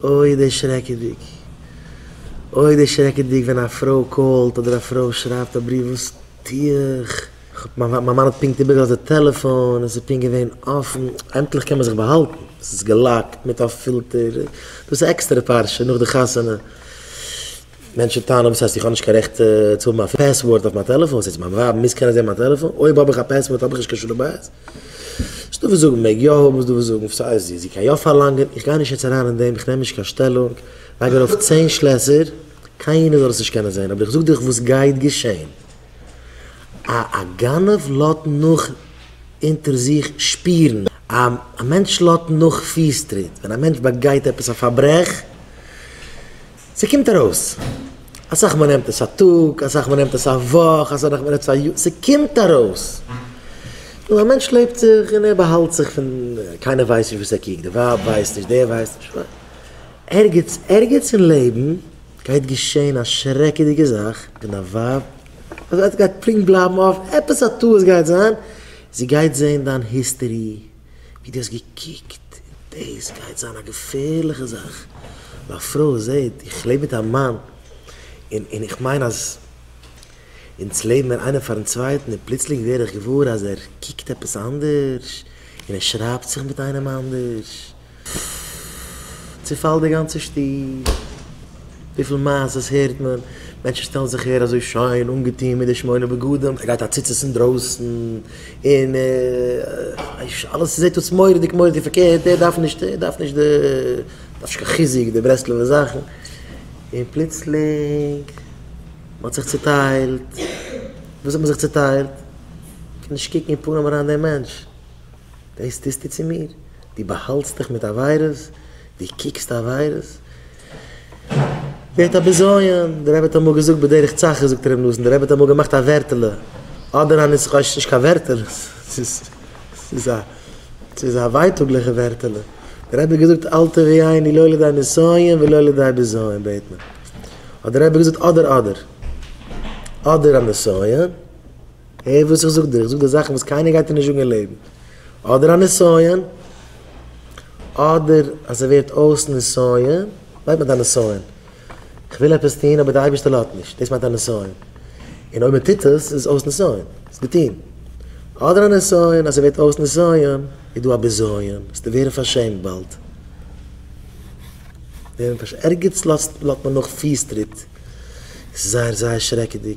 אוי דערשרעקעדיג! אוי דערשרעקעדיג ווען א פרוי קאלט אדער א פרוי שרייבט א בריוו וואס טו איך? מיין מאן האט פונקט איבערגעלאזט די טעלעפאן און ס'איז פונקט געווען אפן. עמטליך קען מען זיך באהאלטן, ס'איז געלאקט מיט א פילטער, דאס איז עקסטערע פרשה נאך די חתונה. מענטשן טענה'ן וואס הייסט איך האב נישט קיין רעכט צו האבן א פעסווארד אויף מיין טעלעפאן? וואס איז מיין ווייב מוז קענען זען מיין טעלעפאן? אויב האב איך א פעסווארד האב איך נישט קיין שלום בית? ס'איז דא וואס זאגן מעג יא האבן איז דא וואס זאגן סאיז א זי קען יא פארלאנגען איך גיי נישט יעצט אריין אין דעם איך נעם נישט קיין שטעלונג לייג ארויף צען שלעסער קיינער זאל עס נישט קענען זען אבער איך זאג דיך וואס גייט געשען א א גנב לאט נאך אונטער זיך שפירן א א מענטש לאט נאך פיס טריט ווען א מענטש באגייט עפעס א פארברעך. ס'קומט ארויס, אסאך מאל נעמט עס א טאג, אסאך מאל נעמט עס א וואך, אסאך מאל נעמט עס א יאר, ס'קומט ארויס. נו, א מענטש לעבט זיך און ער באהאלט זיך פון, קיינער ווייסט נישט וואס ער קוקט, די ווייב ווייסט נישט, דער ווייסט נישט, ווייל ערגעץ, ערגעץ אין לעבן גייט געשען א שרעקעדיגע זאך און א ווייב, אזוי, עס גייט פונקט בלייבן אפן, עפעס א טעות גייט זיין, זי גייט זען דיין היסטערי. ווי דו האסט געקוקט, דאס גייט זיין א געפערליכע זאך, ווען א פרוי זעט איך לעב מיט א מאן, און און איך מיין אז אונז לעבן מיר איינער פארן צווייטן, און פלוצלינג ווער איך געוואר אז ער קוקט עפעס אנדערש, און ער שרייבט זיך מיט איינעם אנדערש, פפפ און אלעס זעט אויס מוראדיג מוראדיג פארקערט, ער דארף נישט, ער דארף נישט די, דארף נישט קיין חיזוק די ברסלב'ע זאכן, און פלוצלינג מען האט זיך צוטיילט, וויאזוי האט מען זיך צוטיילט? קען נישט קוקן אין פנים אריין דעם מענטש, דעס טוסטו צו מיר? דו באהאלטסט דיך מיט עבירות? דו קוקסט עבירות? ווערט א בזיון, דער רבי האט אמאל געזאגט בדרך צחה זאגט ר' נתן, דער רבי האט אמאל געמאכט א ווערטעלע, אדער א ניסחא נישט קיין ווערטעלע, ס'איז א ס'איז א ווייטאגליכע ווערטעלע, דער רבי האט געזאגט אל תביא עיני לא לידי נסיון ולא לידי בזיון בעט מען, האט דער רבי געזאגט אדער אדער, אדער א נסיון, הער וואס איך זאג דיר, איך זאג דיר זאכן וואס קיינער גייט דיר נישט זאגן אין לעבן. אדער א נסיון, אדער אז ס'ווערט אויס נסיון, מיינט מיט א נסיון, כ'וויל עפעס טון אבער דער אייבערשטער לאזט נישט, דאס מיינט א נסיון. און אויב מ'טוט עס, איז עס אויס נסיון, ס'איז געטון. אדער א נסיון, אז ס'ווערט אויס נסיון, איז דא א בזיון, וועסטו ווערן פארשעמט באלד. ערגעץ לאזט מען נאך פיס טריט, ס'איז זייער זייער שרעקעדיג.